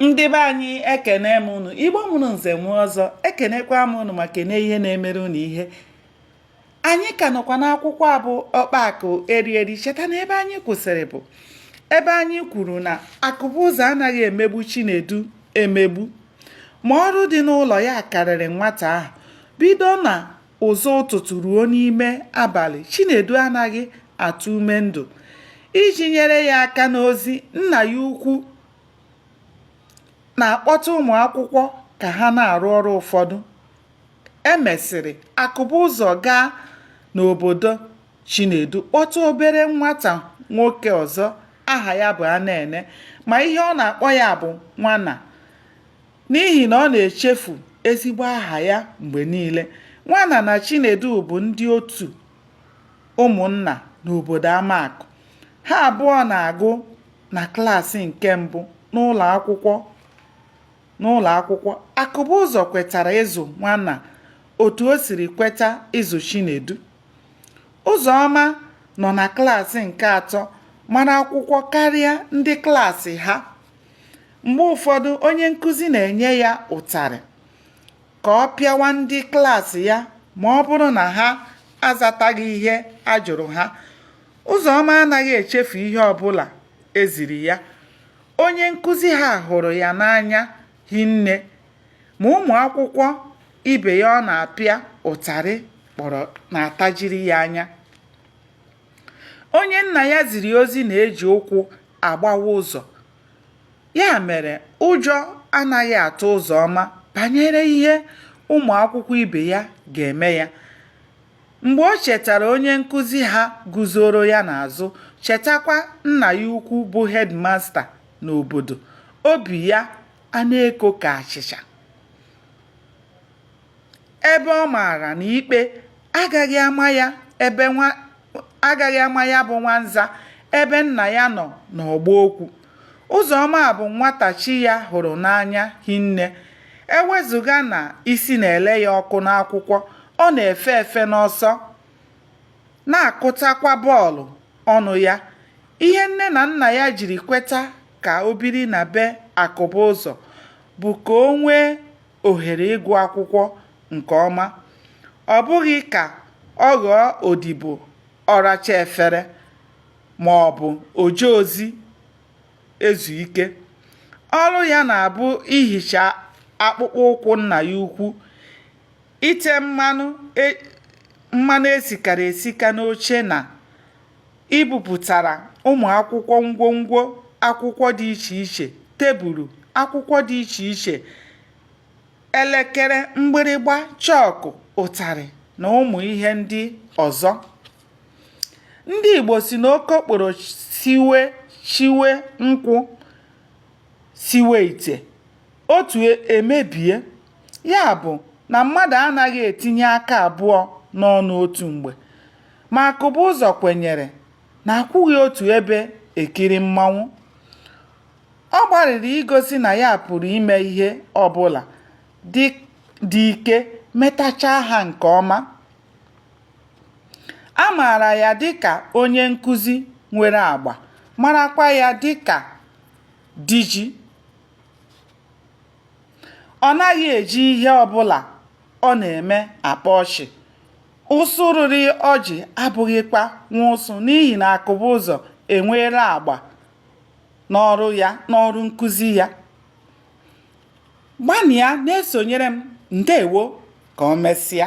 ndị be anyị ekene m unu igbo mụrụ nze mụọ ọzọ ekenekwa m unu ma kene ihe na-emere unu ihe anyị ka nọkwa n'akwụkwọ a bụ ọkpa akụ eri eri cheta na ebe anyị kwụsịrị bụ ebe anyị kwuru na akụbụzọ anaghị emegbu chinedu emegbu ma ọrụ dị n'ụlọ ya karịrị nwata ahụ bido na ụzọ ụtụtụ ruo n'ime abalị Chinedu anaghị atụ ume ndụ iji nyere ya aka n'ozi nna ya ukwu na-akpọta ụmụ akwụkwọ ka ha na-arụ ọrụ ụfọdụ e mesịrị Akụbụzọ gaa n'obodo Chinedu kpọta obere nwata nwoke ọzọ aha ya bụ Anene ma ihe ọ na-akpọ ya bụ nwana N'ihi na ọ na-echefu ezigbo aha ya mgbe niile, Nwana na Chinedu bụ ndị otu ụmụnna n'obodo Amakụ. Ha abụọ na-agụ na klaasị nke mbụ n'ụlọakwụkwọ. Akụbụzọ kwetara ịzụ Nwana otu o siri kweta ịzụ Chinedu. Ụzọma nọ na klaasị nke atọ mara akwụkwọ karịa ndị klaasị ha. Mgbe ụfọdụ, onye nkụzi na-enye ya ụtarị ka ọ pịawa ndị klaasị ya ma ọ bụrụ na ha azataghị ihe a jụrụ ha. Ụzọma anaghị echefu ihe ọbụla e ziri ya. Onye nkụzi ha hụrụ ya n'anya hinne, ma ụmụ akwụkwọ ibe ya ọ na-apịa ụtarị kpọrọ na-atajiri ya anya. Onye nna ya ziri ozi na-eji ụkwụ agbawa ụzọ. Ya mere, ụjọ anaghị atụ Ụzọma banyere ihe ụmụ akwụkwọ ibe ya ga-eme ya. Mgbe o chetara onye nkụzi ha guzoro ya n'azụ, chetakwa nna ya ukwu bụ hedmasta n'obodo, obi ya ana-eko ka achịcha. ebe ọ maara na ikpe agaghị ama ya bụ nwanza ebe nna ya nọ n'ọgba okwu Ụzọma bụ nwata chi ya hụrụ n'anya hinne ewezụga na isi na-ele ya ọkụ n'akwụkwọ ọ na-efe efe n'ọsọ na-akụtakwa bọọlụ ọnụ ya ihe nne na nna ya jiri kweta ka o biri na be Akụbụzọ bụ ka o nwee ohere ịgụ akwụkwọ nke ọma, ọ bụghị ka ọ ghọọ odibo ọracha efere ma ọ bụ oje ozi ezu ike. Ọrụ ya na-abụ ihicha akpụkpọ ụkwụ nna ya ukwu, ite mmanụ esikara esika n'oche na ibupụtara ụmụ akwụkwọ ngwongwo akwụkwọ dị iche iche tebụlụ akwụkwọ dị iche iche elekere mgbịrịgba chọọkụ ụtarị na ụmụ ihe ndị ọzọ ndị Igbo sị na okokporo siwe chiwe nkwụ siwe ite otu emebie ya bụ na mmadụ anaghị etinye aka abụọ n'ọnụ otu mgbe Ma Akụbụzọ kwenyere na akwụghị otu ebe ekiri mmanwụ. Ọ gbalịrị igosi na ya pụrụ ime ihe ọbụla dị ike metachaa ha nke ọma. A maara ya dịka onye nkụzi nwere agba, marakwa ya dịka diji. Ọ naghị eji ihe ọbụla ọ na-eme akpa ọchị. Ụsụ rịrị ọjị abụghịkwa nwa ụsụ n'ihi na Akụbụzọ enweela agba n'ọrụ nkụzi ya. Gbanịa na-esonyere m. Ndewo ka o mesịa.